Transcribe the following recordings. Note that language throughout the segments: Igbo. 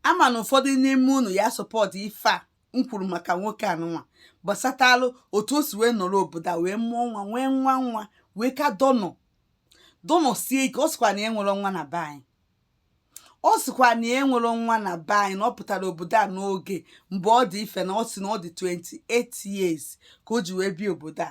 ama na ụfọdụ n'ime unu ya support ife a m kwuru maka nwoke anụnwa gbasatalụ otu o si wee nọrọ obodo a wee mụọ nwa nwee nwa nwa wee ka dọnọ dọnọ sie ike ọ sịkwa na ya nwere nwa na be anyị ọ sịkwa na ya nwere nwa na be anyị na ọ pụtara obodo a n'oge mgbe ọ dị ife na ọ sị na ọ dị 28 years ka o ji wee bịa obodo a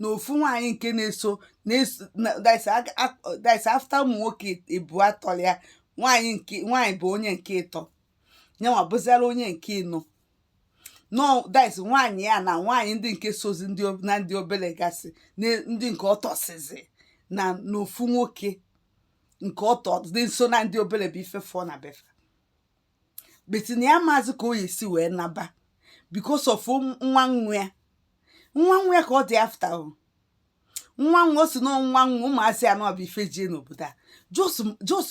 na ofu nwaanyị nke na-eso this after ụmụ nwoke ebua tọrọ ya nwaanyị bụ onye nke ịtọ nyanwa bụziara onye nke ịnọ nọ this nwaanyị ya na nwaanyị ndị nke sozi na ndị obere gasị ndị nke ọ tọsizi na n'ofu nwoke nke ọ tọ dị nso na ndị obere bụ ife fọ na befa but na ya amazị ka o yi si wee naba because of nwa nwa ya nwa nwa ya ka ọ dị after o nwa nwa ọ sị na nwa nwa ụmụazị anọ bụ ife ji ya n'obodo a just just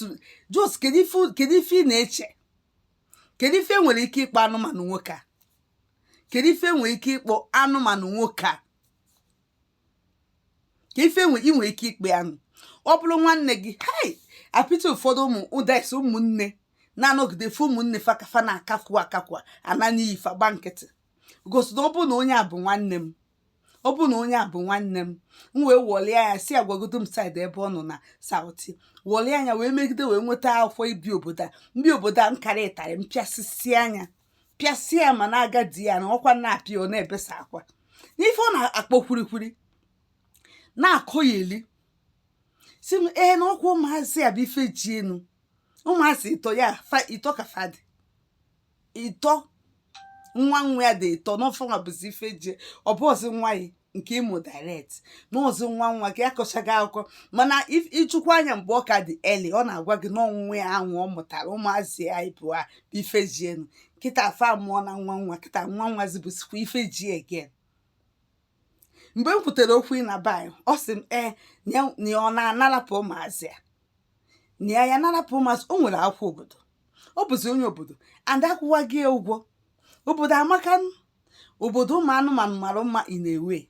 just kedu ife kedu ife ị na-eche kedu ife e nwere ike ịkpọ anụmanụ nwoke a kedu ife e nwere ike ịkpọ anụmanụ nwoke a kee ife nwe ị nwere ike ịkpọ anụ ọ bụrụ nwanne gị hei I pity ụfọdụ ụmụ this ụmụnne na-anọgide fụ ụmụnne fa ka fa na-akakwu akakwu ana n'iyi fa gba nkịtị gosi na ọ bụrụ na onye a bụ nwanne m ọ bụrụ na onye a bụ nwanne m m wee wọlie anya si agwagodo m side ebe ọ nọ na South wọlie anya wee megide wee nweta akwụkwọ ibi obodo a m bie obodo a m kara ịtarị m pịasịsịa nya pịasịa ya ma na-aga di ya na ọkwa na-apịa ọ na-ebesa akwa n'ife ọ na-akpọ kwurikwuri na-akọyeli sị m ee na ọkwa ụmụazị a bụ ife ji enu ụmụazị ịtọ ya fa- ịtọ ka fa dị ịtọ nwa nwa ya dị ịtọ na ọ fanwa bụzi ife ji ọ bụrọzi nwa ya nke ị mụ direct na ọ bụzi nwa nwa ka ya kọchaga akụkọ mana ịchụkwa anya mgbe ọ ka dị early ọ na-agwa gị na ọ nwa ya ahụ ọ mụtara ụmụazị ya ịbụa bụ ife ji enu kịta a fa mụọna nwa nwa kịta nwa nwazi bụsikwa ife ji again mgbe m kwutere okwu ịnaba ọ sị m ee na ọ na-anarapụ ụmụazị ya na ya ya narapụ ụmụazị o nwere akwụkwọ obodo ọ bụzi onye obodo and a kwụwa gị ụgwọ obodo amaka obodo ụmụ anụmanụ mara mma in a way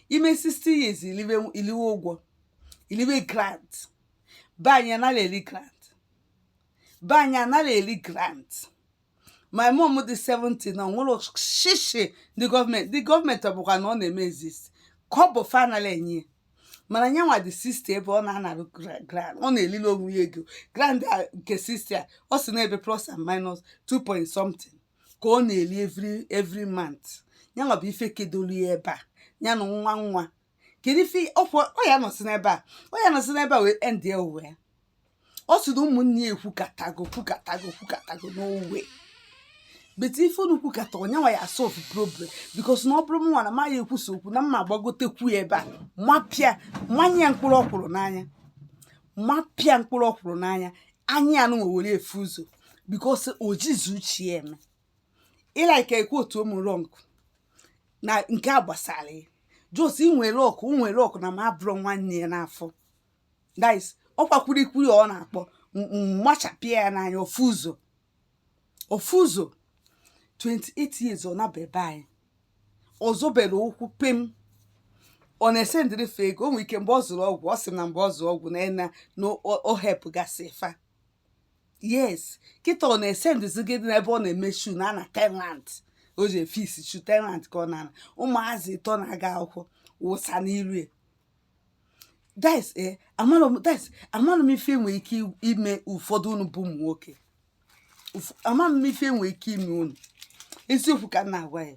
i mee 60 years i liwe i liwe ụgwọ i liwe grant be anyị anaghị eri grant be anyị anaghị eri grant my mom dị 70 na enwerọ shishi ndị gọọmenti ndị gọọmenti ọ bụkwa na ọ na-eme exist ka ọ bụ fa na-enye ya. mana nyanwa dị 60 ebe ọ na-anara gra- grant ọ na-elili onwe ya ego grant a nke 60 a ọ sị na ebe plus and minus 2 point something ka ọ na-eli every every month ya nwa bụ ife kedolu ya ebe a ya na nwa nwa kedu ife ọkwa ọ ya nọsị n'ebe a ọ ya nọsị n'ebe a wee end ya ụwa ya ọ sị na ụmụnne ya ekwukatago kwukatago kwukatago n'owe but ife unu kwukata ọ ya nwa ya solve problem because na ọ bụrụ mụnwa na ma ya ekwusa okwu na mma agbagotekwu ya ebe a mapịa mmanya ya mkpụrụ ọkwụrụ n'anya mapịa mkpụrụ ọkwụrụ n'anya anya nụnwa were afụ ụzọ because o jizi uche ya eme ị like kwuo otu m wrong na nke a gbasara ya just nwere luck nwere luck na mụ abụrọ nwanne ya n'afọ guys ọkwa kwurikwuri ọ na-akpọ m- m- machapịa ya n'anya ọ fụ ụzọ ọ fụ ụzọ 28 years ọ naba ebe anyị ọ zọberọ ụkwụ pem ọ na-esendịrị fa ego o nwere ike mgbe ọ zụrụ ọgwụ ọ sị m na mgbe ọ zụrụ ọgwụ na na na o- ọ helpụgasị fa yes kịta ọ na-esendụzi gị n'ebe ọ na-eme shu na na tenant o ji efe isi shu tenant ka ọ na-ana ụmụazị ịtọ na-aga akwụkwọ wụsa n'iru ya guys ee amarọ m guys amarọ m ife e nwere ike ime ụfọdụ unu bụ ụmụ nwoke amarọ m ife e nwere ike ime unu eziokwu ka m na-agwa ya